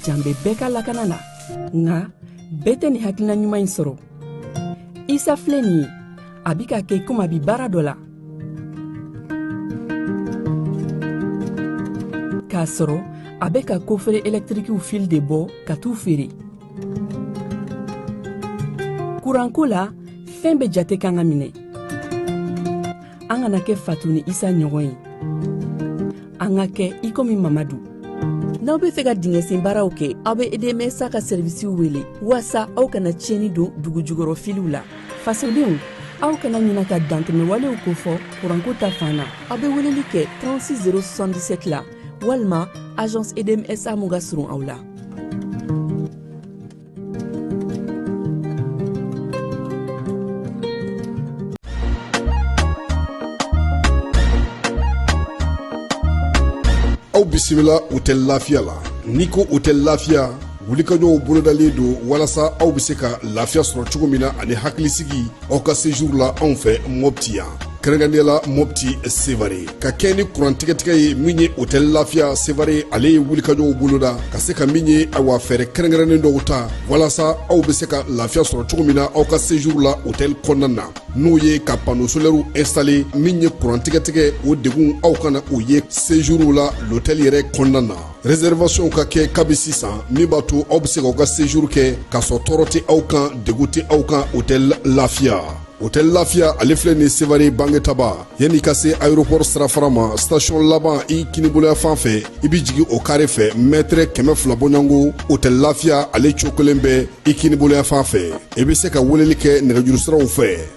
jan bɛ bɛɛ ka lakana la nka bɛɛ tɛ nin hakilina ɲuman in sɔrɔ isa filɛ nin ye a bi ka kɛ komi a bi baara dɔ la k'a sɔrɔ a bɛ ka kofere ɛlɛtirikiw fili de bɔ ka t'u feere kuranko la fɛn bɛɛ jate kan ka minɛ an kana kɛ fatu ni isa ɲɔgɔn ye an ka kɛ i komi mamadu n'aw be fɛ ka dingɛsen baaraw kɛ aw be edmsa ka sɛrivisiw wele waasa aw kana tiɲɛni don dugujukɔrɔ filiw la fasodenw aw kana ɲina ka dantɛmɛwalew kofɔ kuranko ta fan na aw be weleli kɛ 36077 la walima agence edmsa mun ka surun aw la aw bisimila hôtel lafiya la n'i ko hôtel lafiya wulikajɔw bolodalen don walasa aw bɛ se ka lafiya sɔrɔ cogo min na ani hakilisigi aw ka sejuru la anw fɛ mɔpti yan kɛrɛnkɛrɛnnenya la mɔpti sevare ka kɛɲɛ ni kurantigɛtigɛ ye min ye hotɛli lafiya sevare ale ye wulikajɔw boloda ka se ka min ye awa fɛɛrɛ kɛrɛnkɛrɛnnen dɔw ta walasa aw bɛ se ka lafiya sɔrɔ cogo min na aw ka sejuru la hotɛli kɔnɔna na n'o ye ka pano solɛriw instale min ye kurantigɛtigɛ o degun aw kana o ye sejuru la lotɛli yɛrɛ kɔnɔna na réservation ka kɛ kabi sisan min b'a to aw bɛ se k'aw ka séjour kɛ k'a sɔrɔ tɔɔrɔ tɛ aw kan degun tɛ aw kan hôtel lafiya hôtel lafiya ale filɛ nin sevare bangetaba yanni ka se aéroport sirafara ma station laban i kinibolo yanfan fɛ i bɛ jigin o kare fɛ mɛtɛrɛ kɛmɛ fila bɔɲɔgɔnko hôtel lafiya ale cokolen bɛ i kinibolo yanfan fɛ i bɛ se ka weleli kɛ nɛgɛjurusiraw fɛ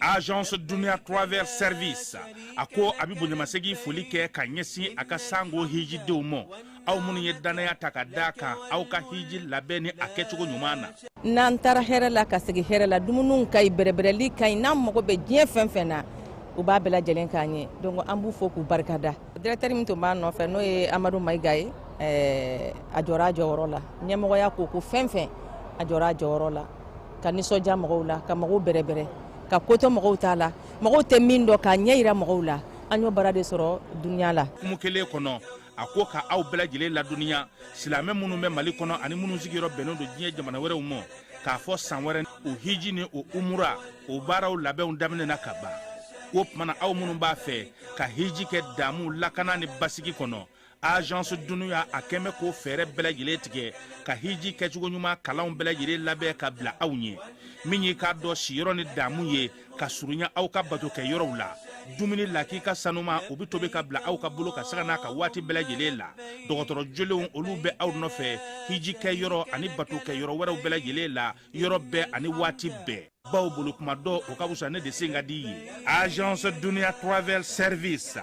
agence dunia travel service a ko a bɛ bonyamasegin foli kɛ ka ɲɛsin a ka sango hijidenw ma aw minnu ye dannaya ta ka d'a kan aw ka hiji labɛn ni a kɛcogo ɲuman na n'an taara hɛrɛ la ka segin hɛrɛ la dumuniw ka ɲi bɛrɛbɛrɛli ka ɲi n'an mago bɛ diɲɛ fɛn fɛn na u b'a bɛɛ lajɛlen k'an ye donc an b'u fo k'u barikada directeur min tun b'a nɔfɛ n'o ye amadu mayiga ye a jɔra a jɔyɔrɔ la ɲɛmɔgɔya ko o ko fɛn fɛn a jɔra a jɔyɔrɔ la ka nisɔndiya mɔgɔw la ka mɔgɔw bɛrɛbɛrɛ ka ko to mɔgɔw ta la mɔgɔw tɛ min dɔn k'a ɲɛyira mɔgɔw la an y'o baara de sɔrɔ dunia la kuma kelen kɔnɔ a ko ka aw bɛɛ lajɛlen ladɔnniya silamɛ minnu bɛ mali kɔnɔ ani minnu sigiyɔrɔ bɛnnen don diɲɛ jamana wɛrɛw ma k'a fɔ san wɛrɛ o hiji ni o umura o baaraw labɛnw daminɛna ka ban o tuma na aw minnu b'a fɛ ka hiji kɛ daamu lakana ni basigi kɔnɔ agence dunuya a kɛmɛ k'o fɛɛrɛ bɛɛ lajɛlen tigɛ ka hiji kɛcogo ɲuman kalanw bɛɛ lajɛlen labɛn ka bila aw ɲɛ min y'i k'a dɔn siyɔrɔ ni daamu ye ka surunya aw ka bato kɛ yɔrɔw la dumuni lakika sanuman u bɛ tobi ka bila aw ka bolo kan sanga n'a ka waati bɛɛ lajɛlen la dɔgɔtɔrɔ jolenw olu bɛ aw nɔfɛ hiji kɛ yɔrɔ ani bato kɛ yɔrɔ wɛrɛw bɛɛ lajɛlen la yɔrɔ bɛɛ ani waati bɛɛ bawo boli tuma dɔn o ka wusa ne de sen ka di ye agence dunia travel service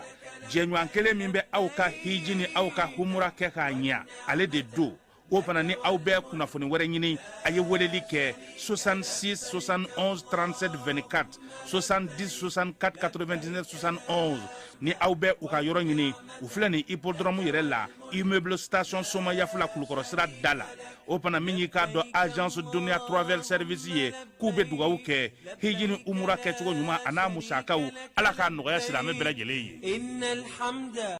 jɛɲɔgɔn kelen min bɛ aw ka hiji ni aw ka umura kɛ k'a ɲɛ ale de don o fana ni aw bɛ kunnafoni wɛrɛ ɲini a ye weleli kɛ 66 71 37 24 70 64 99 71 ni aw bɛ u ka yɔrɔ ɲini u filɛ nin hippodrome yɛrɛ la immeuble station somayaf la kulukɔrɔ sira da la o fana min y'i k'a dɔn agence duniya travel service ye k'u bɛ dugawu kɛ hiji ni umura kɛcogo ɲuman an'a musakaw ala k'a nɔgɔya silamɛ bɛɛ lajɛlen ye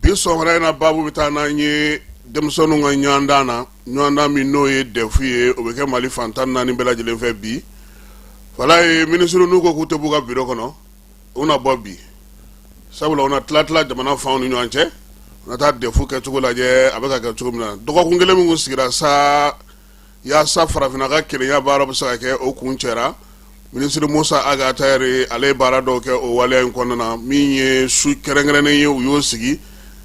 bi sɔgɔmada in na baabu bɛ taa n'an ye denmisɛnninw ka ɲɔgɔndan na ɲɔgɔndan min n'o ye dɛfu ye o bɛ kɛ mali fan tan ni naani bɛɛ lajɛlen fɛ bi falaye minisiri ninnu ko k'u tɛ b'u ka biro kɔnɔ u na bɔ bi sabula u na tila tila jamana fanw ni ɲɔgɔn cɛ u na taa dɛfu kɛcogo lajɛ a bɛ ka kɛ cogo min na dɔgɔkun kelen min kun sigira sa yaasa farafinna ka kelenya baaraw bɛ se ka kɛ o kuncɛra minisiri musa ag attaher ale ye baara dɔw kɛ o waleya in kɔnɔna na min ye su kɛrɛnkɛrɛnnen ye u y'o sigi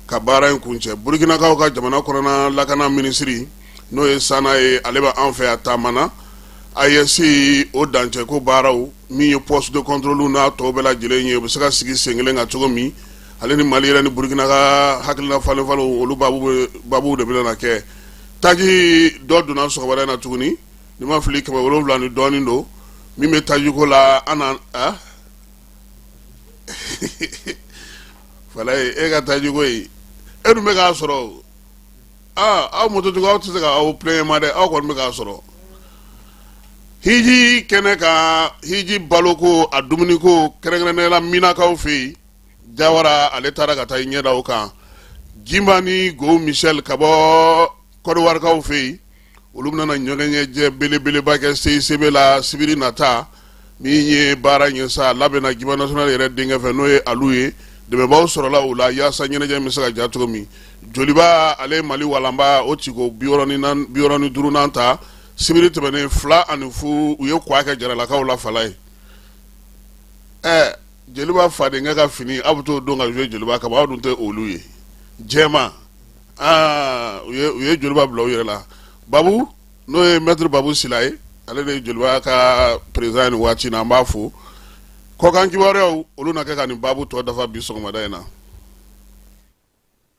ka baara in kuncɛ burukinakaw ka jamana kɔnɔna lakana minisiri n'o ye sana ye ale b'an fɛ yan taama na AES o dancɛko baaraw min ye poste de contrôle n'a tɔw bɛɛ lajɛlen ye u bɛ se ka sigi sen kelen kan cogo min ale ni mali yɛrɛ ni burukina ka hakilila falenfalen olu baabu de bɛna kɛ Taji dɔ donna sɔgɔmada in na tuguni ni n ma fili kɛmɛ wolonwula ni dɔɔnin don min bɛ tajiko la an na a falaye e ka tajiko ye e dun bɛ k'a sɔrɔ aa aw mototigiw aw tɛ se ka aw plaindre ma dɛ aw kɔni bɛ k'a sɔrɔ hiji kɛnɛ kan hiji baloko a dumuniko kɛrɛnkɛrɛnnenya la minakaw fɛ yen jawara ale taara ka taa i ɲɛda o kan jimba ni gohou michel ka bɔ kɔdiwarikaw fɛ yen olu bɛna ɲɔgɔnɲɛjɛ belebeleba kɛ seyisebe la sibiri nata min ye baara ye sa labɛnna jimba national yɛrɛ denkɛ fɛ n'o ye alu ye dɛmɛbaaw sɔrɔla o la yaasa ɲɛnajɛ bɛ se ka ja cogo min joliba ale ye mali walanba o tiko biwɔɔrɔ ni duurunan ta sibiri tɛmɛnen fila ani fu u ye k'a kɛ jaralakaw la falaye ɛɛ jeliba fadenkɛ ka fini aw bɛ t'o don ka jouer jeliba kama aw dun tɛ olu ye jɛman aa u ye u ye jeliba bila u yɛrɛ la babu n'o ye maître babu sila ye ale de ye jeliba ka président ye nin waati in na an b'a fo kɔkan kibaruyaw olu na kɛ ka nin baabu tɔ dafa bi sɔgɔmada in na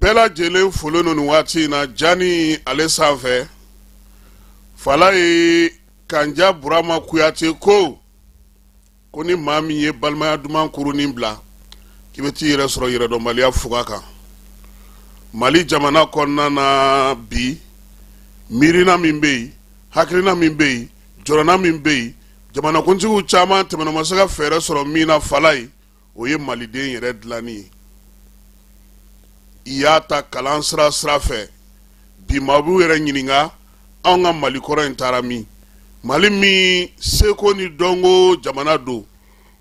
bɛɛ lajɛlen folen don nin waati in na jani ale sanfɛ falayi kanja burama kuyate ko ko ni maa min ye balimaya duman kurunin bila k'i bɛ t'i yɛrɛ sɔrɔ yɛrɛdɔnbaliya fuga kan mali jamana kɔnɔna na bi miirina min bɛ yen hakilina min bɛ yen jɔrɔna min bɛ yen jamanakuntigiw caman tɛmɛna u ma se ka fɛɛrɛ sɔrɔ min na falayi o ye maliden yɛrɛ dilanni ye i y'a ta kalan sira sira fɛ bi maaw b'u yɛrɛ ɲininka anw ka mali kɔrɔ in taara min mali min seko ni dɔnko jamana don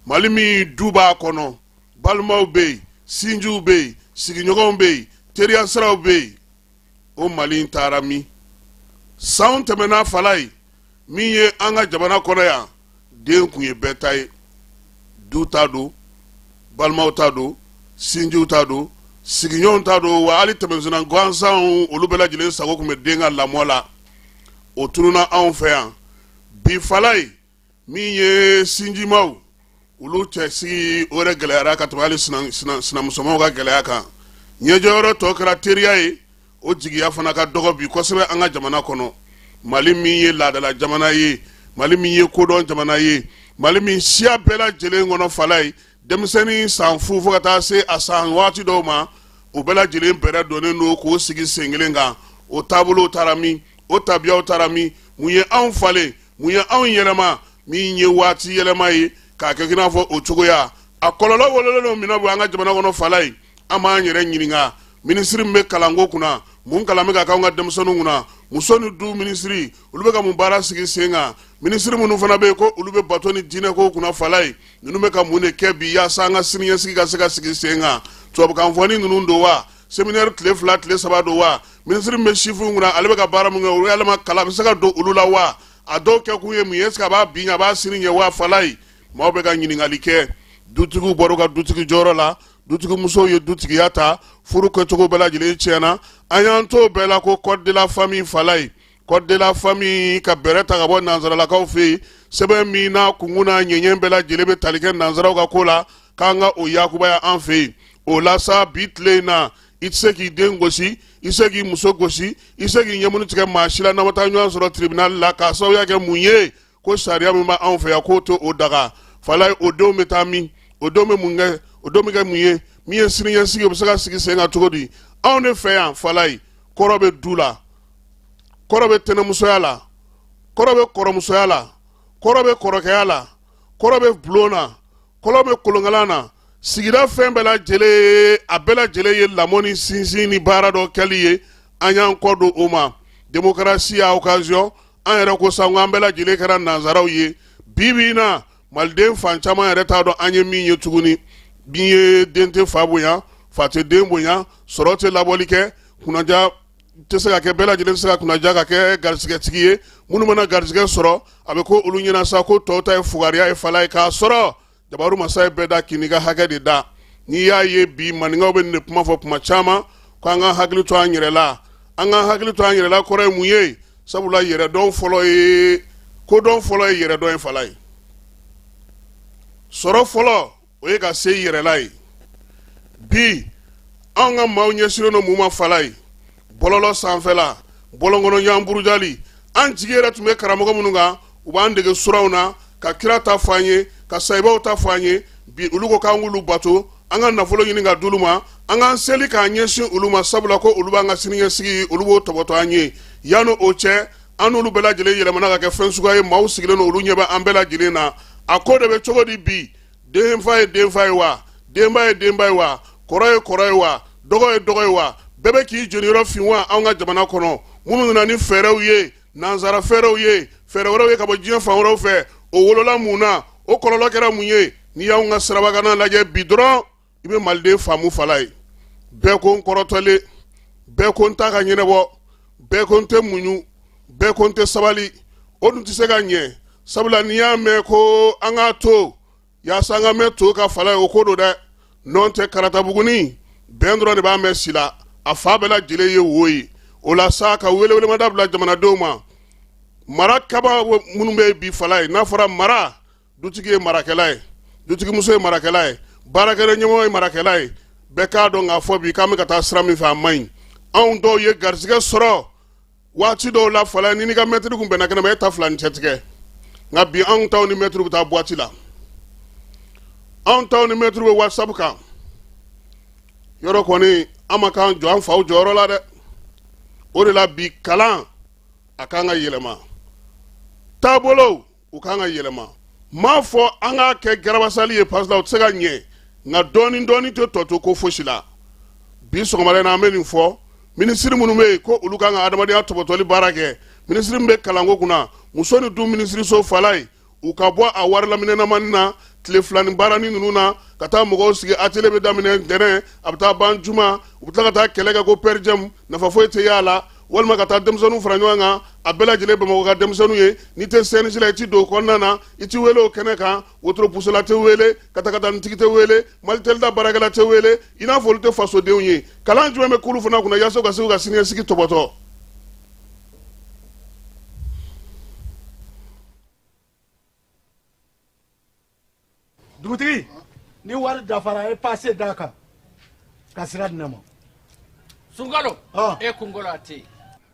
mali min duba kɔnɔ balimaw bɛ yen sinjiw bɛ yen sigiɲɔgɔnw bɛ yen teriya siraw bɛ yen o mali in taara min sanw tɛmɛna falayi min ye an ka jamana kɔnɔ yan den kun ye bɛɛ ta ye du ta don balimaw ta don sinjiw ta don sigiɲɔgɔnw ta don wa hali tɛmɛsenna gansanw olu bɛɛ lajɛlen sago kun bɛ den ka lamɔ la o tununna anw fɛ yan bi falayi min ye sinjimaw olu cɛ sigi o yɛrɛ gɛlɛyara ka tɛmɛ hali sinamusomaw ka gɛlɛya kan ɲɛjɔyɔrɔ tɔ kɛra teriya ye o jigiya fana ka dɔgɔ bi kosɛbɛ an ka jamana kɔnɔ mali min ye laadala jamana ye mali min ye kodɔn jamana ye mali min siya bɛɛ lajɛlen kɔnɔ falayi denmisɛnnin san fu fo ka taa se a san waati dɔw ma o bɛɛ lajɛlen bɛrɛ donnen don k'o sigi sen kelen kan o taabolow taara min o tabiyaw taara min mun ye anw falen mun ye anw yɛlɛma min ye waati yɛlɛma ye k'a kɛ i n'a fɔ o cogoya a kɔlɔlɔ wololen don min na bi an ka jamana kɔnɔ falayi an b'an yɛrɛ ɲininka minisiri min bɛ kalanko kunna mun kalan bɛ ka k'an ka denmisɛnninw kunna muso ni du minisiri olu bɛ ka mun baara sigi sen kan minisiri minnu fana bɛ yen ko olu bɛ bato ni diinɛko kunna falayi ninnu bɛ ka mun de kɛ bi yaasa an ka siniɲɛsigi ka se ka sigi sen kan tubabukanfɔni ninnu don wa seminɛri tile fila tile saba don wa minisiri min bɛ sifinw kunna ale bɛ ka baara mun kɛ o yɛlɛma kalan bɛ se ka don olu la wa a dɔw kɛ kun ye mun ye est-ce que a b'a bi ɲɛ a b'a sini ɲɛ wa falayi maaw bɛ ka ɲininkali kɛ dutigiw bɔra u ka dutigi jɔyɔrɔ la dutigimusow ye dutigiya ta furu kɛcogo bɛɛ lajɛlen tiɲɛna an y'an to bɛɛ la ko code de la famille falayi code de la famille ka bɛrɛ ta ka bɔ nanzaralakaw fɛ yen sɛbɛn min na kunkun n'a ɲɛɲɛ bɛɛ lajɛlen bɛ tali kɛ nanzaraw ka ko la k'an ka o yakubaya an fɛ yen o la sa bi tile in na i tɛ se k'i den gosi i tɛ se k'i muso gosi i tɛ se k'i ɲɛmuni tigɛ maa si la n'aw ma taa ɲɔgɔn sɔrɔ tiribinali la k'a sababuya kɛ mun ye ko sariya min b'anw fɛ yan k'o to o daga fala ye o denw bɛ taa min o denw bɛ mun kɛ o denw bɛ kɛ mun ye min ye siniɲɛsigi o bɛ se ka sigi sen kan cogo di anw de fɛ yan fala ye kɔrɔ bɛ du la kɔrɔ bɛ tɛnɛmusoya la kɔrɔ bɛ kɔrɔmusoya la kɔrɔ bɛ kɔrɔkɛya la kɔrɔ bɛ bulon na kɔrɔ bɛ kolonkalan na sigida fɛn bɛɛ lajɛlen a bɛɛ lajɛlen ye lamɔ ni sinsin ni baara dɔ kɛli ye an y'an kɔ don o ma demokarasi y'a okaziyɔn an yɛrɛ ko sa an bɛɛ lajɛlen kɛra nanzaraw ye bi bi in na maliden fan caman yɛrɛ t'a dɔn an ye min ye tuguni bin ye den tɛ fa bonya fa tɛ den bonya sɔrɔ tɛ labɔli kɛ kunnaja tɛ se ka kɛ bɛɛ lajɛlen tɛ se ka kunnaja ka kɛ garisɛgɛtigi ye minnu mana garisɛgɛ sɔrɔ a bɛ ko olu ɲɛna sa ko tɔw ta ye fugariya ye fala ye k'a sɔrɔ jabaru masa ye bɛɛ da k'i ka hakɛ de da n'i y'a ye bi maninkaw bɛ nin de kuma fɔ tuma caman ko an ka hakili to an yɛrɛ la an ka hakili to an yɛrɛ la kɔrɔ ye mun ye sabula yɛrɛdɔn fɔlɔ ye kodɔn fɔlɔ ye yɛrɛdɔn ye fala ye sɔrɔ fɔlɔ o ye ka se i yɛrɛ la ye bi anw ka maaw ɲɛsinnen don mun ma fala ye bɔlɔlɔ sanfɛla bɔlɔnkɔnɔ ɲɔgɔn burujali an jigi yɛrɛ tun bɛ karamɔgɔ minnu kan u b'an dege suraw na ka kira ta fɔ an ye ka sayibaw ta fɔ an ye bi olu ko k'an k'olu bato an ka nafolo ɲini ka d'olu ma an k'an seli k'an ɲɛsin olu ma sabula ko olu b'an ka siniɲɛsigi olu b'o tɔbɔtɔ an ye yanni o cɛ an n'olu bɛɛ lajɛlen yɛlɛmana ka kɛ fɛn suguya ye maaw sigilen don olu ɲɛ bɛ an bɛɛ lajɛlen na a ko de bɛ cogo di bi denfa ye denfa ye wa denba ye denba ye wa kɔrɔ ye kɔrɔ ye wa dɔgɔ ye dɔgɔ ye wa bɛɛ bɛ k'i jeniyɔrɔ fin wa anw ka jamana kɔnɔ minnu nana ni fɛɛrɛw ye nansara fɛɛrɛw ye fɛɛrɛ wɛrɛw ye ka bɔ diɲɛ fan wɛrɛw fɛ o wolola mun na o kɔlɔlɔ kɛra mun ye n'i y'anw ka sirabakanna lajɛ bi dɔrɔn i bɛ maliden faamu fala ye bɛɛ ko n kɔrɔtɔlen bɛɛ ko n ta ka ɲɛnabɔ bɛɛ ko n tɛ muɲu bɛɛ ko n tɛ sabali o dun tɛ se ka ɲɛ sabula n'i y'a mɛn ko an k'a to yaasa an ka mɛn to ka fala ye o ko don dɛ nɔn tɛ karatabugunin bɛn dɔrɔn de b'a mɛn si la a fan bɛɛ lajɛlen ye wo ye o la sa ka welewelemada bila jamanadenw ma marakɛbaa minnu bɛ bi fala ye n'a fɔra mara dutigi ye marakɛla ye dutigimuso ye marakɛla ye baarakɛla ɲɛmɔgɔ ye marakɛla ye bɛɛ k'a dɔn k'a fɔ bi k'an bɛ ka taa sira min fɛ a man ɲi anw dɔw ye garisɛgɛ sɔrɔ waati dɔw la fala n'i ka mɛtiri kunbɛnna kɛnɛ ma e ta fila ni cɛ tigɛ nka bi anw taw ni mɛtiri bɛ taa buwati la anw taw ni mɛtiri bɛ wasabu kan yɔrɔ kɔni an ma k'an jɔ an faw jɔyɔrɔ la dɛ o de la bi kalan a kan ka yɛlɛma taabolow u ka kan ka yɛlɛma m'a fɔ an k'a kɛ garabasali ye parce que o tɛ se ka ɲɛ nka dɔɔni dɔɔni tɛ tɔ to ko fosi la bi sɔgɔmada na an bɛ nin fɔ minisiri minnu bɛ yen ko olu ka kan ka adamadenya tɔbɔtɔli baara kɛ minisiri min bɛ kalanko kunna muso ni du minisiriso falayi u ka bɔ a wari laminɛnamani na tile filani baarani ninnu na ka taa mɔgɔw sigi atelier bɛ daminɛ ntɛnɛn a bɛ taa ban juma u bɛ tila ka taa kɛlɛ kɛ ko perdiem nafa foyi tɛ y'a la walima ka taa denmisɛnninw fara ɲɔgɔn kan a bɛɛ lajɛlen bamakɔ ka denmisɛnninw ye n'i tɛ cnj la i ti don o kɔnɔna na i ti wele o kɛnɛ kan wotoro pusola tɛ wele katakatanitigi tɛ wele malitelida baarakɛla tɛ wele i n'a fɔ olu tɛ fasodenw ye kalan jumɛn bɛ k'olu fana kunna yaasa u ka se k'u ka siniɲɛsigi tɔbɔtɔ dugutigi ni wari dafara e pase d'a kan ka sira di ne ma sungalo e kunkolo a tɛ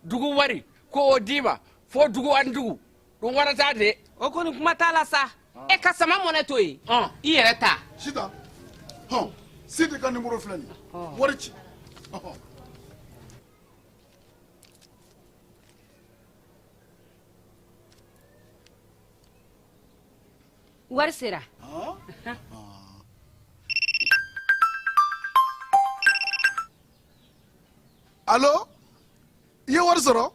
dugu wari ko o d'i ma fo dugu ani dugu don wɛrɛ t'a de o kɔni kuma t'a la sa e ka sama mɔnɛ to yen i yɛrɛ ta sita hɔn sidi ka nimoro filɛ nin wari ci wari sera alo i ye wari sɔrɔ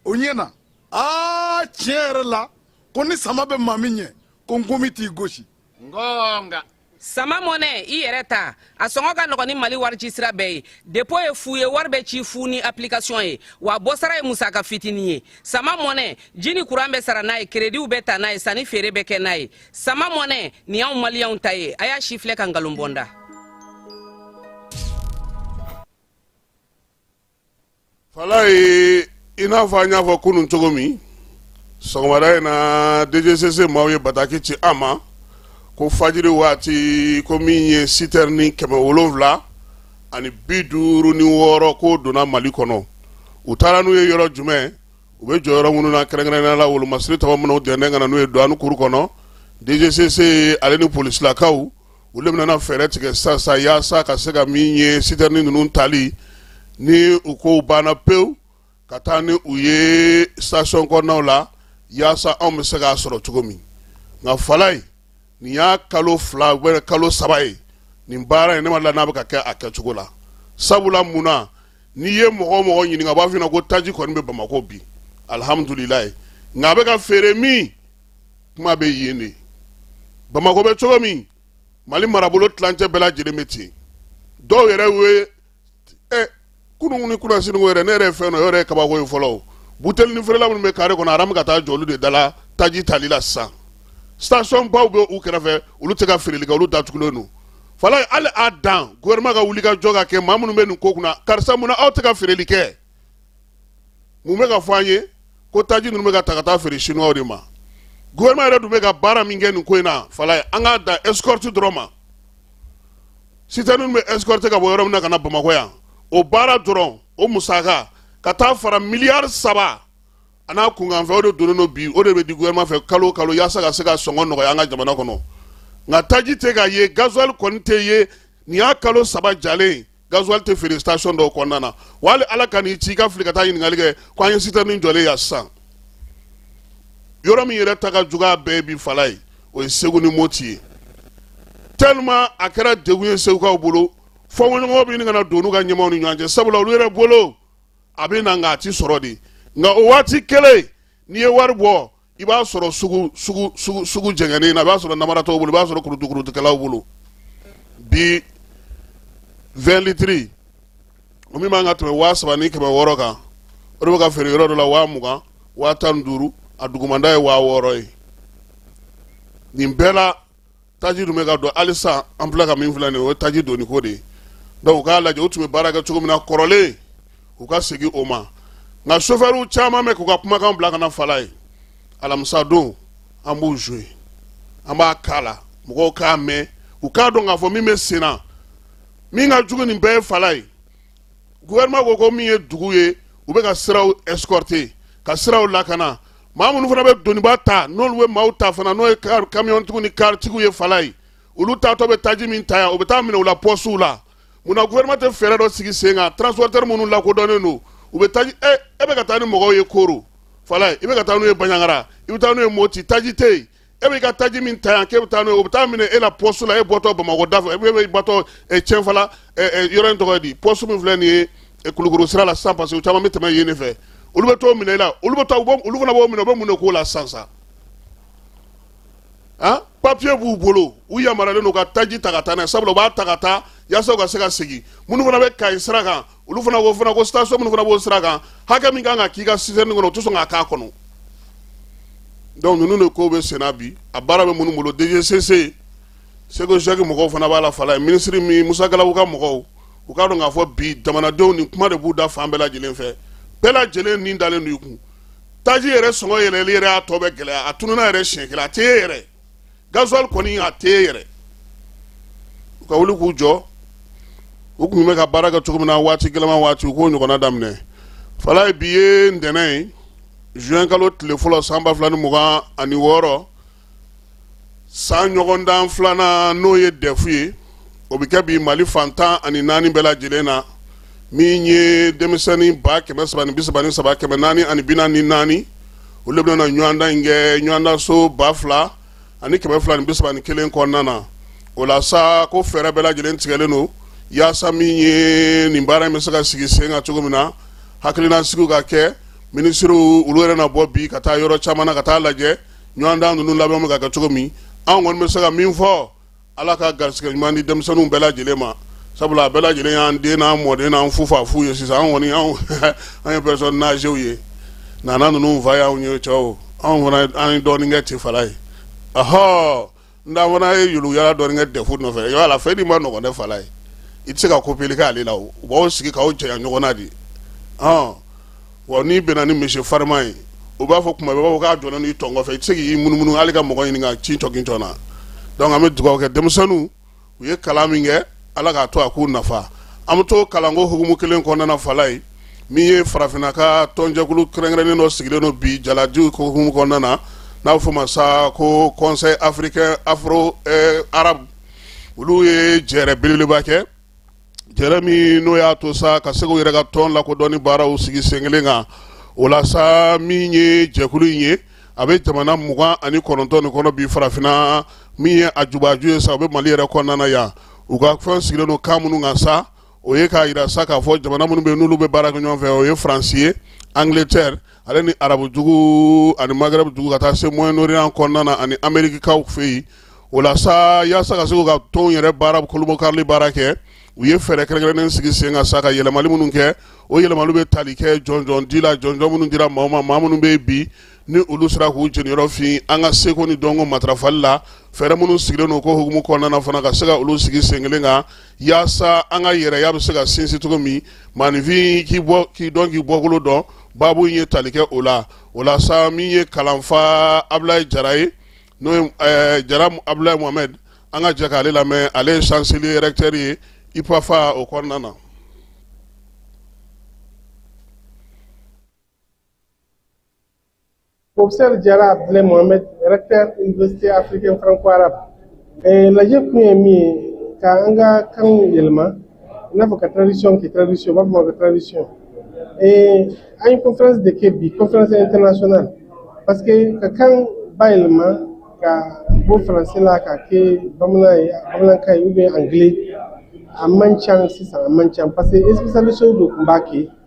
o ɲɛna aa tiɲɛ yɛrɛ la ko ni sama bɛ maa min ɲɛ ko nkɔmi t'i gosi ngonga sama mɔnɛ i yɛrɛ ta a sɔngɔ ka nɔgɔn ni mali warici sira bɛɛ ye depo ye fu ye wari bɛ ci fu ni application ye wa bɔsara ye musaka fitini ye sama mɔnɛ ji ni kuran bɛ sara n'a ye kerediw bɛ ta n'a ye sanni feere bɛ kɛ n'a ye sama mɔnɛ nin y'anw maliyɛnw ta ye a y'a sifilɛ ka nkalon bɔ n da falayi i n'a fɔ an y'a fɔ kunun cogo min sɔgɔmada in na dgcc maaw ye bataki ci an ma ko fajiri waati ko min ye sitɛrini kɛmɛ wolonwula ani bi duuru ni wɔɔrɔ k'o donna mali kɔnɔ u taara n'u ye yɔrɔ jumɛn u bɛ jɔ yɔrɔ minnu na kɛrɛnkɛrɛnnenya la wolomasiri tɔgɔ minnu dɛndɛ ka na n'u ye duwani kuru kɔnɔ dgcc ale ni polisilakaw olu de bɛna fɛɛrɛ tigɛ sisan yaasa ka se ka min ye sitɛrini ninnu tali ni u ko banna pewu ka taa ni u ye station kɔnɔnaw la yaasa anw bɛ se k'a sɔrɔ cogo min nka falayi nin y'a kalo fila ou bien kalo saba ye nin baara in ne ma la n'a bɛ ka kɛ a kɛcogo la sabula mun na n'i ye mɔgɔ o mɔgɔ ɲininka b'a f'i na ko taji kɔni bɛ bamakɔ bi alihamdulilayi nka a bɛ ka feere min kuma bɛ yen de bamakɔ bɛ cogo min mali marabolo tilancɛ bɛɛ lajɛlen bɛ ten dɔw yɛrɛ ye ɛ kunun ni kunasini yɛrɛ ne yɛrɛ fɛn dɔ yɛrɛ ye kabako ye fɔlɔ buteli ni feerela minnu bɛ kare kɔnɔ aramu ka taa jɔ olu de dala taji tali la sisan station baw bɛ u kɛrɛfɛ olu tɛ ka feereli kɛ olu datugulen don Falayi hali a dan gouvernement ka wuli ka jɔ ka kɛ maa minnu bɛ nin ko kunna karisa mun na aw tɛ ka feereli kɛ mun bɛ ka fɔ an ye ko taji ninnu bɛ ka ta ka taa feere chinois de ma gouvernement yɛrɛ dun bɛ ka baara min kɛ nin ko in na Falayi an k'a dan escorte dɔrɔn ma citerne ninnu bɛ escorter ka bɔ yɔrɔ min na ka na bamakɔ yan o baara dɔrɔn o musaka ka taa fara miliyari saba a n'a kunkanfɛn o de donnen don bi o de bɛ di gouvernement fɛ kalo o kalo yaasa ka se ka sɔngɔ nɔgɔya an ka jamana kɔnɔ nka taji tɛ ka ye gasoil kɔni tɛ ye nin y'a kalo saba jalen ye gasoil tɛ feere station dɔw kɔnɔna na wa hali Ala kan'i ci i ka fili ka taa ɲininkali kɛ ko an ye citerne jɔlen yan sisan yɔrɔ min yɛrɛ ta ka jugu a bɛɛ bi Falayi o ye Segu ni Moti ye tellement a kɛra degun ye Segukaw bolo fɔɲɔgɔnkɔ bɛ ɲini ka na don n'u ka ɲɛmaaw ni ɲɔgɔn cɛ sabula olu yɛrɛ bolo a bɛ na nka a tɛ sɔrɔ de nka o waati kelen n'i ye wari bɔ i b'a sɔrɔ sugu jɛgɛnnen na i b'a sɔrɔ namaratɔw bolo i b'a sɔrɔ kurutukɛlaw bolo bi vingt litres o min man kan ka tɛmɛ waa saba ni kɛmɛ wɔɔrɔ kan o de bɛ ka feere yɔrɔ dɔ la waa mugan waa tan duuru a dugumada ye waa wɔɔrɔ ye nin bɛɛ la taji dun bɛ ka don hali sisan an filɛ ka min filɛ nin ye o ye taji donni ko de ye donc u k'a lajɛ u tun bɛ baara kɛ cogo min na kɔrɔlen u ka segin o ma nka sofɛriw caman bɛ k'u ka kumakan bila ka na Falayi alamisa don an b'u jouer an b'a k'a la mɔgɔw k'a mɛn u k'a dɔn k'a fɔ min bɛ sen na min ka jugu nin bɛɛ ye Falayi gouvernement ko ko min ye dugu ye u bɛ ka siraw escorter ka siraw lakana maa minnu fana bɛ doniba ta n'olu bɛ maaw ta fana n'o ye kamiyɔntigiw ni karitigiw ye Falayi olu taatɔ bɛ taji min ta yan u bɛ taa minɛ u la pɔsiw la mun na gouvernement tɛ fɛɛrɛ dɔ sigi sen kan transporteur minnu lakodɔnnen don u bɛ taji e e bɛ ka taa ni mɔgɔw ye Koro Falayi i bɛ ka taa n'u ye baɲangara i bɛ taa n'u ye moti taji tɛ yen e bɛ ka taji min ta yan k'e bɛ taa n'o ye o bɛ taa minɛ e la pɔsu la e bɔtɔ bamakɔ da fɛ e bɛ bɔtɔ Cɛnfala yɔrɔ in tɔgɔ di pɔsu min filɛ nin ye kulukoro sira la sisan parce que caman bɛ tɛmɛ yen de fɛ olu bɛ t'o minɛ e la olu bɛ taa olu fana b'o minɛ u bɛ mun de k'o la sisan sisan han papiye b'u bolo u yamaruyalen don ka taji ta ka taa n'a ye sabula u b'a ta ka taa yaasa u ka se ka segin minnu fana bɛ kayi sira kan olu fana ko station minnu fana b'o sira kan hakɛ min kan ka k'i ka citerne kɔnɔ u tɛ sɔn k'a k'a kɔnɔ donc ninnu de ko bɛ senna bi a baara bɛ minnu bolo dgcc seko jacques mɔgɔw fana b'a la falaye minisiri min musa galabu ka mɔgɔw u k'a dɔn k'a fɔ bi jamanadenw nin kuma de b'u da fan bɛɛ lajɛlen fɛ bɛɛ lajɛlen nin dalen don i kun taji yɛrɛ sɔngɔ yɛlɛli yɛrɛ y'a tɔ bɛ gɛlɛya a tununa yɛrɛ siɲɛ kelen a tɛ ye yɛrɛ gasoil kɔni a tɛ ye yɛrɛ u ka wuli k'u jɔ u tun bɛ ka baara kɛ cogo min na waati gɛlɛnman waati u k'o ɲɔgɔnna daminɛ falaye bi ye ntɛnɛn ye juin kalo tile fɔlɔ san ba fila ni mugan ani wɔɔrɔ san ɲɔgɔndan filanan n'o ye dɛfu ye o bɛ kɛ bi mali fan tan ani naani bɛɛ lajɛlen na min ye denmisɛnnin ba kɛmɛ saba ni bi saba ni saba kɛmɛ naani ani bi naani ni naani olu bɛna ɲɔgɔndan in kɛ ɲɔgɔndanso ba fila ani kɛmɛ fila ni bi saba ni kelen kɔnɔna na o la sa ko fɛɛrɛ bɛɛ lajɛlen tigɛlen don yaasa min ye nin baara in bɛ se ka sigi sen kan cogo min na hakililasigi ka kɛ minisiriw olu yɛrɛ na bɔ bi ka taa yɔrɔ caman na ka taa lajɛ ɲɔgɔndan ninnu labɛn bɛ ka kɛ cogo min an kɔni bɛ se ka min fɔ Ala ka garisɛgɛ ɲuman di denmisɛnninw bɛɛ lajɛlen ma sabula a bɛɛ lajɛlen y'an den n'an mɔden n'an fu fa fu ye sisan an kɔni an ye personnes âgées ye na ninnu fa y'an ye cɛw anw fana an ye dɔɔnin kɛ tɛ falaye ahɔ n fana ye yala dɔɔnin kɛ dɛfu nɔfɛ yala la fɛn ni ma nɔgɔ dɛ falaye i tɛ se ka kopeli kɛ ale la u b'aw sigi k'aw janya ɲɔgɔn na de ye wa n'i bɛnna ni monsieur farima ye u b'a fɔ kuma bɛɛ k'a jɔlen don i tɔn kɔfɛ i tɛ se k'i munumunu hali ka mɔgɔ ɲini ka ci tɔkɛ jɔn na donc an bɛ dugawu kɛ denmisɛnninw u ye kalan min kɛ ala k'a to a k'u nafa an bɛ to kalanko hukumu kelen kɔnɔna falaye min ye farafinna ka tɔnjɛkulu kɛrɛnkɛrɛnnen dɔ sigilen don bi jaladiw hukumu kɔnɔna na n'a bɛ fɔ ma sa ko conseil africain afro arabu olu ye jɛrɛ belebeleba kɛ Jɛrɛ min n'o y'a to sa ka se k'u yɛrɛ ka tɔn lakodɔnni baaraw sigi sen kelen kan o la sa min ye jɛkulu in ye a bɛ jamana mugan ani kɔnɔntɔn ni kɔnɔ bi farafinna min ye a jubaju ye sa o bɛ mali yɛrɛ kɔnɔna yan u ka fɛn sigilen don kan minnu kan sa o ye k'a jira sa k'a fɔ jamana minnu bɛ n'olu bɛ baara kɛ ɲɔgɔn fɛ o ye faransi ye angleterre ale ni arabudugu ani maghrebdugu ka taa se moyen-orient kɔnɔna ani amerikikaw fɛ yen o la sa yaasa ka se k'u ka tɔnw yɛrɛ baara kolobokarili baara kɛ u ye fɛɛrɛ kɛrɛnkɛrɛnnen sigi sen kan sa ka yɛlɛmali minnu kɛ o yɛlɛmaliw bɛ tali kɛ jɔnjɔn di la jɔnjɔn minnu dira mɔgɔ ma maa minnu bɛ bi ni olu sera k'u jeniyɔrɔ fin an ka seko ni dɔnko matarafali la fɛɛrɛ minnu sigilen don ko hukumu kɔnɔna fana ka se ka olu sigi sen kelen kan yaasa an ka yɛrɛya bɛ se ka sinsin cogo min maaninfin k'i bɔ k'i dɔn k'i bɔkolo dɔn baabu in ye tali kɛ o la o la sa min ye kalanfa abulayi jara ye n'o ye eh, jara abulayi mohamɛd an ka jɛ k'ale lamɛn ale ye chancelier recteur ye upafa o kɔnɔna na Professeur Jara Abdoulaye Mohamed, recteur Université africaine franco-arabe. Eh, lajɛ kun ye min ye ka an ka kanw yɛlɛma i n'a fɔ ka traduction kɛ traduction u b'a fɔ ma ko traduction eh, an ye conférence de kɛ bi conférence internationale parce que ka kan bayɛlɛma ka bɔ français la ka kɛ bamanan ye bamanankan ye ou bien anglais a man ca sisan a man ca parce que spécialistes de tun b'a kɛ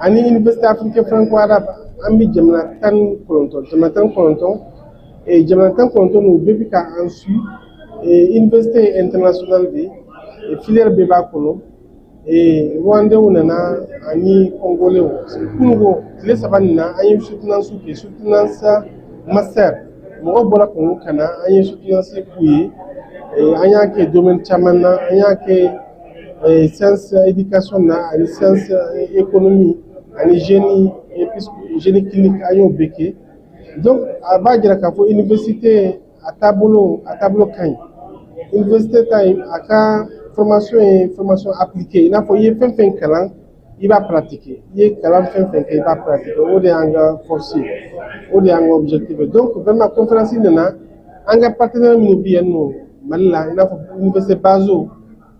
ani université africaine franco arabe an bɛ jamana tan ni kɔnɔntɔn jamana tan ni kɔnɔntɔn jamana tan ni kɔnɔntɔn n'u bɛɛ bɛ ka an su université ye international de ye filière bɛɛ b'a kɔnɔ rwandais nana ani congolais kununko tile saba nin na an ye soutenance kɛ soutenance master mɔgɔ bɔra congo ka na an ye soutenance k'u ye an y'a kɛ domaine caman na an y'a kɛ eh, science éducation na ani science eh, économie ani génie génie clinique an y'o bɛɛ kɛ donc a b'a jira k'a fɔ université a taabolo a taabolo ka ɲi université ta in a ka formation ye formation appliquée i n'a fɔ i ye fɛn fɛn kalan i b'a pratiquer i ye kalan fɛn fɛn kɛ i b'a pratiquer o de y'an ka force ye o de y'an ka objectif ye donc vraiment conférence nana an ka partenaire minnu bɛ yan nɔ mali la i n'a fɔ université bazo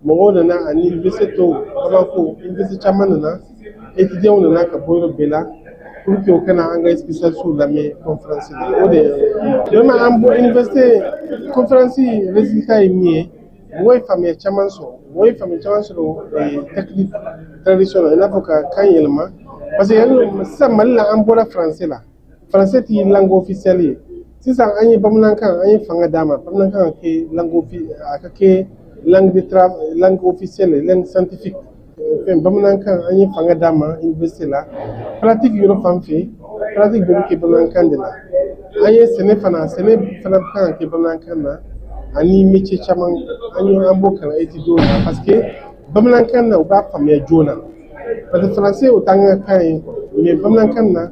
mɔgɔw nana ani université tɔw bamako université caman nana étudiants nana ka bɔ yɔrɔ bɛɛ la pour que u ka na an ka spécialistes lamɛn conférence la o de ye vraiment an bɔ université conférence résultat ye min ye Mɔgɔw ye faamuya caman sɔrɔ mɔgɔw ye faamuya caman sɔrɔ ee, technique traduction na i n'a fɔ ka kan yɛlɛma parce que yanni sisan mali la an bɔra français la français tɛ langue officielle ye sisan an ye bamanankan an ye fanga d'a ma bamanankan ka kɛ langue offi- a ka kɛ langue de tra- langue officielle ye, langue scientifique fɛn bamanankan an ye fanga d'a ma université la pratique yɔrɔ fan fɛ pratique bɛɛ bɛ kɛ bamanankan de la an ye sɛnɛ fana sɛnɛ fana bɛ kan ka kɛ bamanankan na ani métier caman an ye an b'o kalan étudiants la parce que bamanankan na u b'a faamuya joona parce que français o t'an ka kan ye mais bamanankan na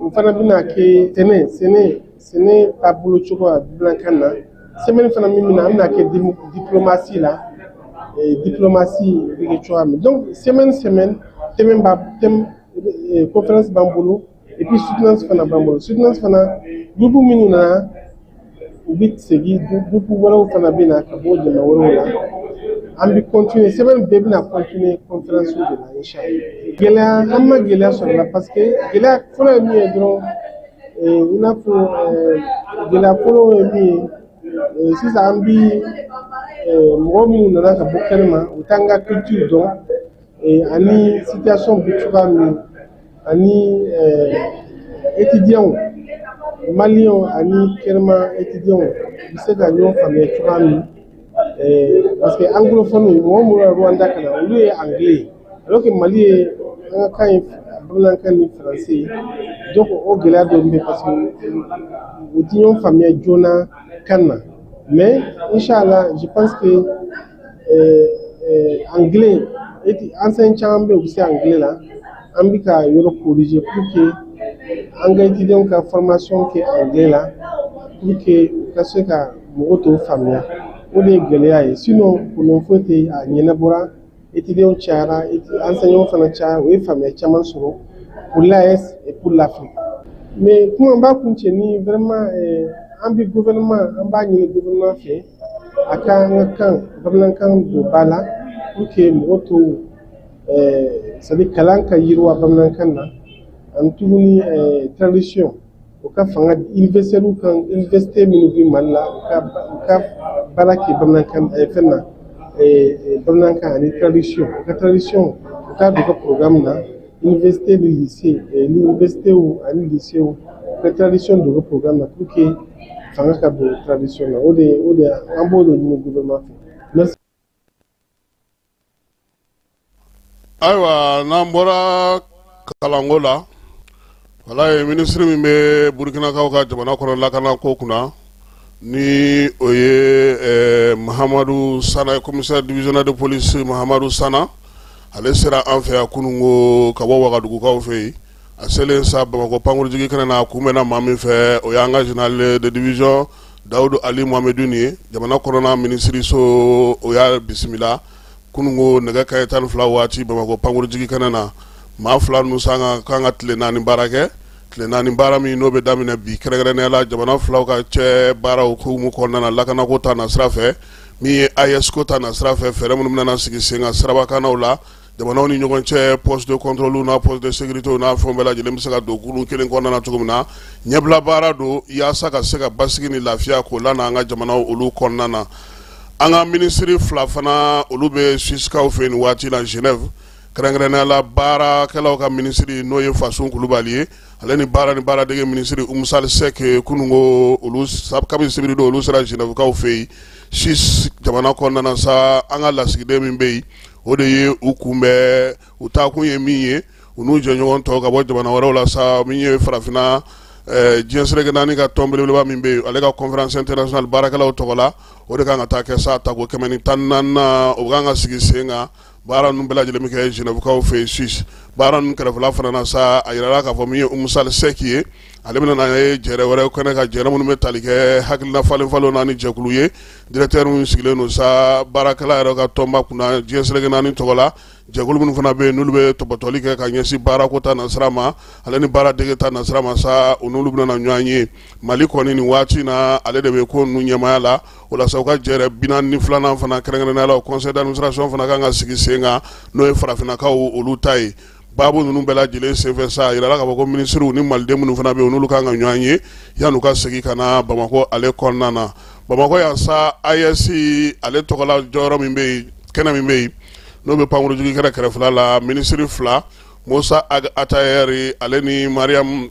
O fana bɛna kɛ sɛnɛ sɛnɛ sɛnɛ taabolo cogoya bamanankan na semaine fana min bɛna an bɛna kɛ diplomatie la diplomatie bɛ kɛ cogoya min donc semaine semaine thème b'a thème conférence b'an bolo et puis soutenance fana b'an bolo soutenance fana groupe minnu nana u bɛ segin groupe wɛrɛw fana bɛ na ka bɔ jamana wɛrɛw la an bɛ continuer semaine bɛɛ bɛna continuer conférence de la inchallah gɛlɛya an ma gɛlɛya sɔrɔ la parce que gɛlɛya fɔlɔ ye min ye dɔrɔn i n'a fɔ gɛlɛya fɔlɔ ye min ye Eh, sisan an bi eh, mɔgɔ minnu nana ka bɔ kɛnɛma u t'an ka culture dɔn Ee, ani situation bɛ cogoya min ani étudiants maliens ani kɛnɛma étudiants u bɛ se ka ɲɔgɔn faamuya cogoya min ee, parce que anglophone mɔgɔ minnu bɔra Rwanda ka na olu ye anglais ye alors que Mali ye an ka kan ye bamanankan ni français ye donc o gɛlɛya dɔ bɛ yen parce que u tɛ ɲɔgɔn faamuya joona kan na mais inchallah je pense que anglais enseignants caman bɛ yen u bɛ se anglais la an bɛ ka yɔrɔ corriger pour que an ka étudiants ka formation kɛ anglais la pour que u ka se ka mɔgɔw tɔw faamuya o de ye gɛlɛya ye sinon problème foyi tɛ yen a ɲɛnabɔra étudiants cayara enseignants fana cayara o ye faamuya caman sɔrɔ pour l'AES et pour l'Afrique mais kuma n b'a kuncɛ ni vraiment an bɛ gouvernement an b'a ɲini gouvernement fɛ A ka an ka kan bamanankan don ba la pour que mɔgɔw tɔw eh, c'est à dire kalan ka yiriwa bamanankan na ani tuguni eh, tradition u ka fanga di universitaires kan université minnu bɛ Mali la u ka ba- u ka baara kɛ bamanankan eh, fɛn na eh, eh, bamanankan ani tradition u ka tradition u k'a don u ka programme na Université ni lycée eh, l'université ani lycée u ka tradition don u ka programme na pour que fanga ka don tradition na o de o de an b'o de ɲini gouvernement fɛ. Merci. ayiwa n'an bɔra kalanko la Wala ye ministre min bɛ burukinakaw ka jamana kɔnɔ lakana ko kunna ni o ye Mahamadu Sana commissaire divisionnaire de police Mahamadu Sana ale sera an fɛ yan kunungo ka bɔ wagadugukaw fɛ yen a selen sa bamakɔ pankurunjigi kɛnɛ na a kunbɛnna maa min fɛ o y'an ka général de division Dawudu Ali Mohamedine jamana kɔnɔna ministre so o y'a bisimila kunungo nɛgɛ kanɲɛ tan ni fila waati bamakɔ pankurunjigi kɛnɛ na maa fila ninnu sa ka kan ka tile naani baara kɛ tile naani baara min n'o bɛ daminɛ bi kɛrɛnkɛrɛnnenya la jamana filaw ka cɛ baaraw hukumu kɔnɔna na lakanako ta na sira fɛ min ye AES-ko ta na sira fɛ fɛɛrɛ minnu bɛna sigi sen kan sirabakannaw la jamanaw ni ɲɔgɔn cɛ poste de contrôle n'a poste de sécurité n'a fɛnw bɛɛ lajɛlen bɛ se ka don kurun kelen kɔnɔna na cogo min na ɲɛbila baara don yaasa ka se ka basigi ni lafiya k'o lana an ka jamanaw olu kɔnɔna na An ka minisiri fila fana olu bɛ Suissekaw fɛ yen nin waati la Genève kɛrɛnkɛrɛnnenya la baarakɛlaw ka minisiri n'o ye Fasun Kulubali ye ale ni baara ni baaradege minisiri Umu Sali Sɛki kunun ko olu kabini sibiri don olu sera Genèvekaw fɛ yen Suisse jamana kɔnɔna na sa an ka lasigiden min bɛ yen o de ye u kunbɛn u taakun ye min ye u n'u jɛɲɔgɔn tɔw ka bɔ jamana wɛrɛw la sa min ye farafinna eh, diɲɛ seleke naani ka tɔn belebeleba min bɛ yen ale ka conférence internationale baarakɛlaw tɔgɔ la o de kan ka taa kɛ sa tako kɛmɛ ni tan naani na o kan ka sigi sen kan baara ninnu bɛɛ lajɛlen bɛ kɛ Genèvekaw fɛ yen Suisse baara ninnu kɛrɛfɛla fana na sa a yirala k'a fɔ min ye Umu Sali Sɛki ye ale bɛna na ye jɛrɛ wɛrɛ kɛnɛ kan jɛrɛ minnu bɛ tali kɛ hakilina falen falenw na ni jɛkulu ye directeur min sigilen don sa baarakɛla yɛrɛ ka tɔnba kunna diɲɛ seleke naani tɔgɔ la jɛkulu minnu fana bɛ yen n'olu bɛ tɔpɔtɔli kɛ ka ɲɛsin baarako ta nasira ma ale ni baaradege ta nasira ma sa u n'olu bɛna ɲɔgɔn ye mali kɔni nin waati na ale de bɛ ko ninnu ɲɛmaya la o la sa u ka jɛrɛ binaani ni filanan fana kɛrɛnkɛrɛnnenya la conseil d'administration fana kan ka sigi sen kan n'o ye farafinnakaw olu ta ye baabu ninnu bɛɛ lajɛlen senfɛ sa a yirala k'a fɔ ko minisiriw ni maliden minnu fana bɛ yen n'olu kan ka ɲɔgɔn ye yan'u ka segin ka na bamakɔ ale kɔnɔna na bamakɔ yan sa AES ale tɔgɔla jɔyɔrɔ min bɛ yen kɛnɛ min bɛ yen n'o bɛ pankurunjigi kɛra kɛrɛfɛla la minisiri fila Musa Ag Atayɛri ale ni Mariam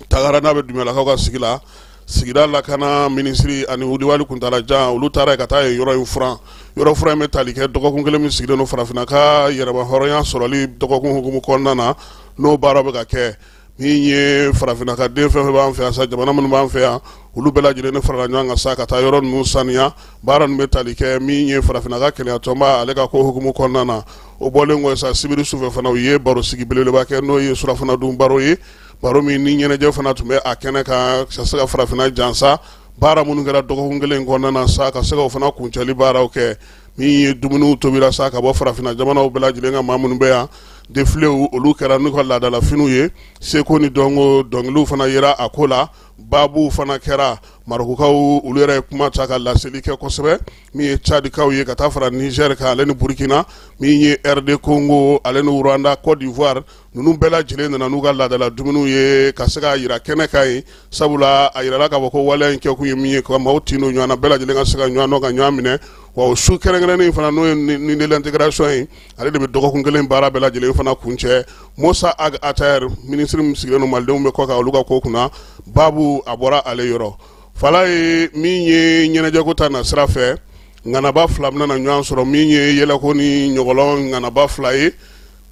Tangara n'a bɛ Dumuyalakaw ka sigi la sigida lakana minisiri ani Wudiwali Kuntala Jan olu taara ka taa yen yɔrɔ in furan yɔrɔ furan in bɛ tali kɛ dɔgɔkun kelen min sigilen don farafinna ka yɛrɛmahɔrɔnya sɔrɔli dɔgɔkun hukumu kɔnɔna na n'o baara bɛ ka kɛ Min ye farafinna ka den fɛn fɛn b'an fɛ yan jamana minnu b'an fɛ yan olu bɛɛ lajɛlen ne farala ɲɔgɔn kan sa ka taa yɔrɔ ninnu saniya baara ninnu bɛ tali kɛ min ye farafinna ka kelenyatɔnba ale ka ko hukumu kɔnɔna na o bɔlen kɔ sa sibiri sufɛ fana u ye barosigi belebeleba kɛ n'o ye surɔfana dun baro ye baro min ni ɲɛnajɛ fana tun bɛ a kɛnɛ kan ka se ka farafinna jansa baara minnu kɛra dɔgɔkun kelen kɔnɔna na sa ka se k'o fana kuncɛli baaraw kɛ min ye dumuniw tobira sa ka bɔ farafinna jamanaw bɛɛ lajɛlen ka maa minnu bɛ yan defilew olu kɛra n'u ka laadalafiniw ye seko ni dɔnko dɔnkiliw fana yera a ko la baabuw fana kɛra Marɔkukaw olu yɛrɛ ye kuma ta ka laseli kɛ kosɛbɛ min ye cadikaw ye ka taa fara Nizɛri kan ale ni burukina min ye RD Congo ale ni Rwanda Côte d'Ivoire ninnu bɛɛ lajɛlen nana n'u ka laadala dumuniw ye ka se k'a jira kɛnɛ kan yen sabula a jirala k'a fɔ ko waleya in kɛkun ye min ye ka maaw tin don ɲɔgɔn na bɛɛ lajɛlen ka se ka ɲɔgɔn dɔn ka ɲɔgɔn minɛ wa o su kɛrɛnkɛrɛnnen fana n'o ye nuit de l'intégration ye ale de bɛ dɔgɔkun kelen baara bɛɛ lajɛlen fana kuncɛ Musa Ag Ater minisiri min sigilen don malidenw bɛ kɔkan olu ka ko kunna baabu a bɔra ale yɔrɔ Fala ye min ye ɲɛnajɛko ta nasira fɛ ŋanaba fila bɛna na ɲɔgɔn sɔrɔ min ye yɛlɛko ni ɲɔgɔlɔn ŋanaba fila ye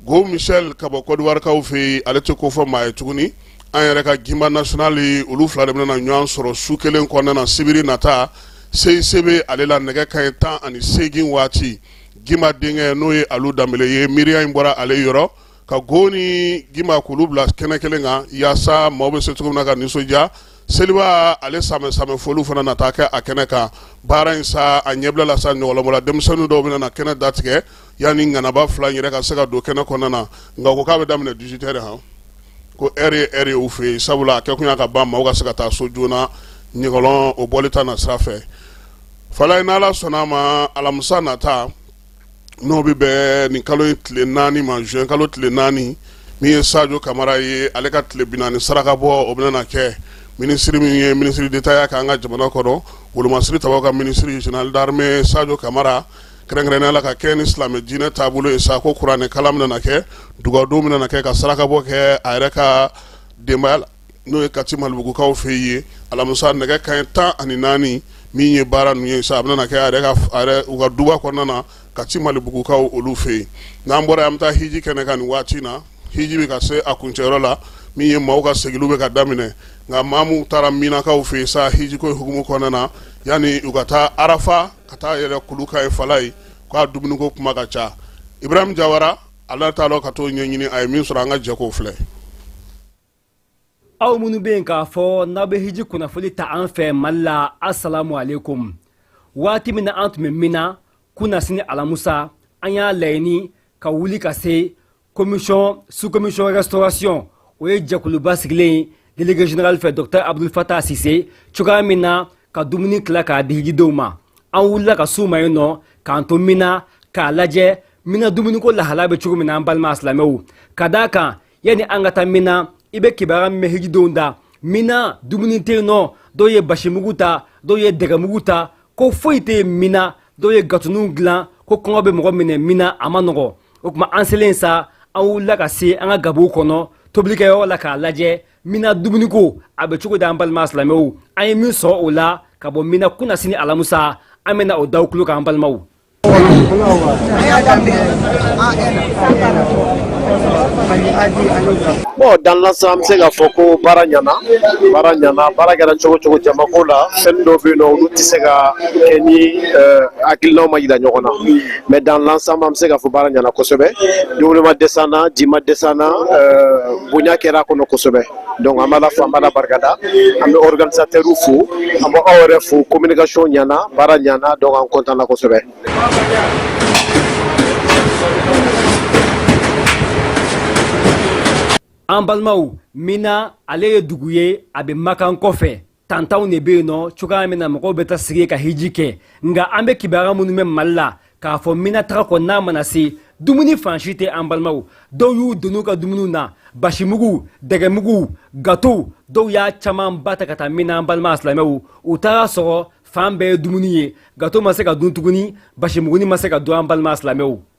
Gohou Michel ka bɔ kɔdiwarikaw fɛ yen ale tɛ ko fɔ maa ye tuguni an yɛrɛ ka gimba national olu fila de bɛna na ɲɔgɔn sɔrɔ su kelen kɔnɔna na sibiri nata CICB ale la nɛgɛ kanɲɛ tan ani seegin waati gimba denkɛ n'o ye alu danbele ye miiriya in bɔra ale yɔrɔ ka Gohou ni gimba k'olu bila kɛnɛ kelen kan yaasa maaw bɛ se cogo min na ka nisɔndiya seliba ale sanbɛɛ sanbɛɛ foli fana na taa kɛ a kɛnɛ kan baara in sa a ɲɛbila la sa ɲɔgɔlɔnbɔla denmisɛnnin dɔw bɛna na kɛnɛ datigɛ yanni ŋanaba fila yɛrɛ ka se ka don kɛnɛ kɔnɔna na nka ko k'a bɛ daminɛ dix-huit heures han ko heure ye heure ye u fɛ yen sabula a kɛ kun y'a ka ban maaw ka se ka taa so joona ɲɔgɔlɔn o bɔli ta na sira fɛ fala ye n'ala sɔnna a ma alamisa nata n'o bɛ bɛn nin kalo in tile naani ma juin kalo tile naani min ye sajo kamara ye ale ka tile binaani saraka bɔ o bɛna na kɛ minisiri min ye minisiri d'État ya k'an ka jamana kɔnɔ wolomasiri tabaw ka minisiri jenerali d'armée sajo kamara kɛrɛnkɛrɛnnenya la ka kɛ ni silamɛ diinɛ taabolo ye sa ko kuranɛ kalan bɛna na kɛ dugawudon bɛna na kɛ ka saraka bɔ kɛ a yɛrɛ ka denbaya la n'o ye kati malibugukaw fɛ yen alamisa nɛgɛ kanɲɛ tan ani naani min ye baara ninnu ye sa a bɛna kɛ u ka duba kɔnɔna na kati malibugukaw olu fɛ yen n'an bɔra an bɛ taa hiji kɛnɛ kan nin waati in na hiji bɛ ka se a kuncɛyɔrɔ la min ye maaw ka seginniw bɛ ka daminɛ nka maa minnu taara minakaw fɛ yen sa hijiko hukumu kɔnɔna na yanni u ka taa arafa ka taa yɛlɛn kulu kan yen fala ye k'a dumuniko kuma ka ca ibrahim jawara ale taalen don ka taa o ɲɛɲini a ye min sɔrɔ an ka jɛ k'o filɛ aw minnu bɛ yen k'a fɔ n'aw bɛ hiji kunnafoni ta an fɛ mali la asalamu alaikum waati min na an tun bɛ mina kunasini alamusa an y'a laɲini ka wuli ka se Commission sous-commission restauration o ye jɛkuluba sigilen délégué général fɛ docteur abdul fatah sise cogoya min na ka dumuni tila k'a di hijidenw ma an wulila ka s'u ma yen nɔ k'an to mina k'a lajɛ mina dumuniko lahala bɛ cogo min na an balima silamɛw ka d'a kan yanni an ka taa mina i bɛ kibaruya min mɛn hijidenw da mina dumuni tɛ nɔ dɔw ye basi mugu ta dɔw ye dɛgɛ mugu ta ko foyi tɛ mina dɔw ye gatoninw dilan ko kɔngɔ bɛ mɔgɔ minɛ mina a ma nɔgɔ o tuma an selen sa an wulila ka se an ka gabuw kɔnɔ tobilikɛyɔrɔ la k'a lajɛ mina dumuniko a bɛ cogo di an balima silamɛw an ye min sɔrɔ o la ka bɔ mina kunasini alamusa an bɛna o d'aw tulo kan balimaw Bon dans l'ensemble an bɛ se k'a fɔ ko baara ɲana baara ɲana baara kɛra cogo cogo jamako la fɛn dɔ bɛ yen nɔ olu tɛ se ka kɛ ni eh, hakilinaw ma jira ɲɔgɔn na mais dans l'ensemble an bɛ se k'a fɔ baara ɲana kosɛbɛ dumuni ma dɛsɛ an na ji ma dɛsɛ an na eh, bonya kɛra a kɔnɔ kosɛbɛ donc an bɛ Ala fo an bɛ Ala barikada an bɛ organisateurw fo an bɛ aw yɛrɛ fo communication ɲana baara ɲana donc an content na kosɛbɛ. An balimaw, Minna ale ye dugu ye a bɛ Makan kɔfɛ. tantanw de bɛ yen nɔ cogoya min na mɔgɔw bɛ taa sigi ka hiji kɛ nka an bɛ kibaruya minnu mɛn mali la k'a fɔ mina taga kɔni mana se dumuni fan si tɛ an balimaw dɔw y'u doni ka dumuniw na basimugu dɛgɛmugu gatow dɔw y'a camanba ta ka taa mina an balima silamɛw u taara sɔrɔ fan bɛɛ ye dumuni ye gato ma se ka dun tuguni basimuguni ma se ka dun an balima silamɛw